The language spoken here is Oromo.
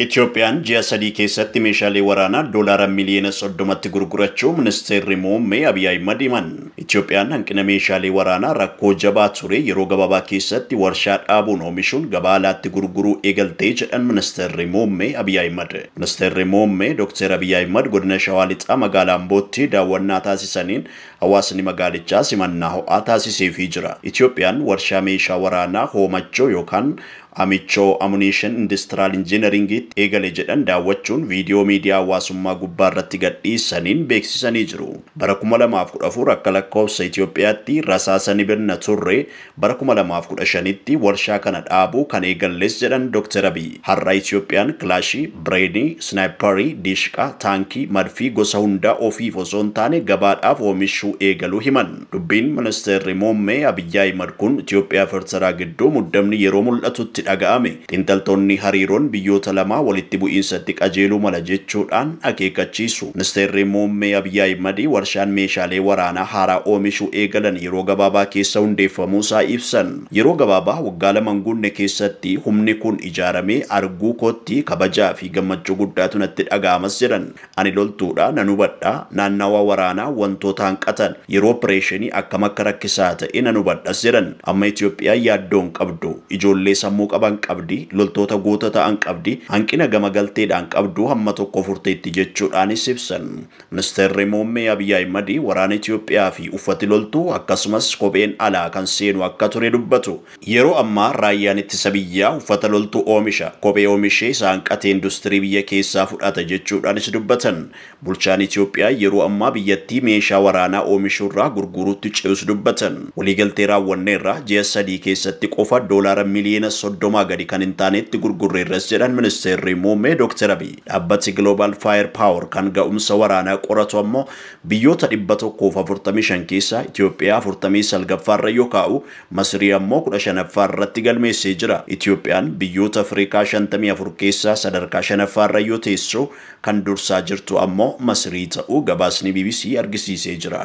Itiyoophiyaan ji'a sadii keessatti meeshaalee waraanaa Doolaara miliyoona 30tti gurgurachuu Ministeerri Muummee Abiy Ahimad himan. Itiyoophiyaan hanqina meeshaalee waraanaa rakkoo jabaa ture yeroo gabaabaa keessatti warshaa dhaabuun oomishuun gabaa alaatti gurguruu eegalte jedhan Ministeerri Muummee Abiy Ahimad. Ministeerri Muummee Dokteer Abiy Ahimad Godina Shawaa Lixaa Magaalaa Ambootti daawwannaa taasisaniin hawaasni magaalichaa simannaa ho'aa taasiseefii jira. Itiyoophiyaan warshaa meeshaa waraanaa hoomachoo yookaan Amichoo Amuniishin Indistiraal Injiinariingiitti eegale jedhan daawwachuun viidiyoo miidiyaa hawaasummaa gubbaa irratti gadhiisaniin beeksisanii jiru. Bara kuma lamaa fi kudha afur akka lakkoofsa Itoophiyaatti rasaasa ni bitna turre, bara kuma lamaa fi kudha shanitti warshaa kana dhaabuu kan eegalles jedhan Doktar Abiy. Har'a Itoophiyaan Kilaashii, Bireenii, Isnaayipparii, Diishqaa, Taankii, Madfii gosa hundaa ofiif osoo hin taane gabaadhaaf oomishuu eegaluu himan. Dubbiin Ministeerri Muummee Abiy Ahimad kun Itoophiyaa fi Ertiraa gidduu muddamni yeroo mul'atutti dhaga'ame. Xiinxaltoonni hariiroon biyyoota lamaa walitti bu'iinsatti qajeeluu mala jechuudhaan akeekkachiisu. Ministeerri Muummee Abiy Ahimad warshaan meeshaalee waraanaa haaraa oomishuu eegalan yeroo gabaabaa keessa hundeeffamuusaa ibsan. Yeroo gabaabaa waggaa lama hin guunne keessatti humni kun ijaaramee arguu kootti kabajaa fi gammachuu guddaatu natti dhaga'amas jedhan. Ani loltuudha, nan hubadha. Naannawaa waraanaa wantoota hanqatan, yeroo opireeshinii akkam akka rakkisaa ta'e nan hubadhas jedhan. Amma Itoophiyaan yaaddoo hin qabdu. Ijoollee sammuu qaban qabdi, loltoota goota ta'an qabdi, hanqina gama galteedhaan qabdu hamma tokko furteetti jechuudhaanis ibsan. Ministeerri Muummee Abiy Ahimad waraana Itoophiyaa fi uffati loltuu akkasumas kopheen alaa kan seenu akka ture dubbatu. Yeroo ammaa Raayyaan Ittisa Biyyaa uffata loltuu oomisha, kophee oomishee isa hanqate industirii biyya keessaa fudhata jechuudhaanis dubbatan. Bulchaan Itiyoophiyaa yeroo ammaa biyyattii meeshaa waraanaa oomishuurraa gurguuruutti ce'us dubbatan. Waliigaltee raawwanneerra, ji'a sadii keessatti qofa doolaara miliyoona soddomaa gadi kan hin taanetti gurgurreerras jedhan Ministeerri Muummee Dooktar Abiy. Dhaabbati Global Fire Power kan ga'umsa waraanaa qoratu ammoo biyyoota dhibba tokkoo fi afurtamii shan keessaa Itiyoophiyaa afurtamii salgaffaarra yoo kaa'u, Masrii ammoo kudha shanaffaa irratti galmeessee jira. Itoophiyaan biyyoota Afrikaa shantamii afur keessaa sadarkaa shanaffaa irra yoo teessu, kan dursaa jirtu ammoo Masrii ta'uu gabaasni bbc argisiisee jira.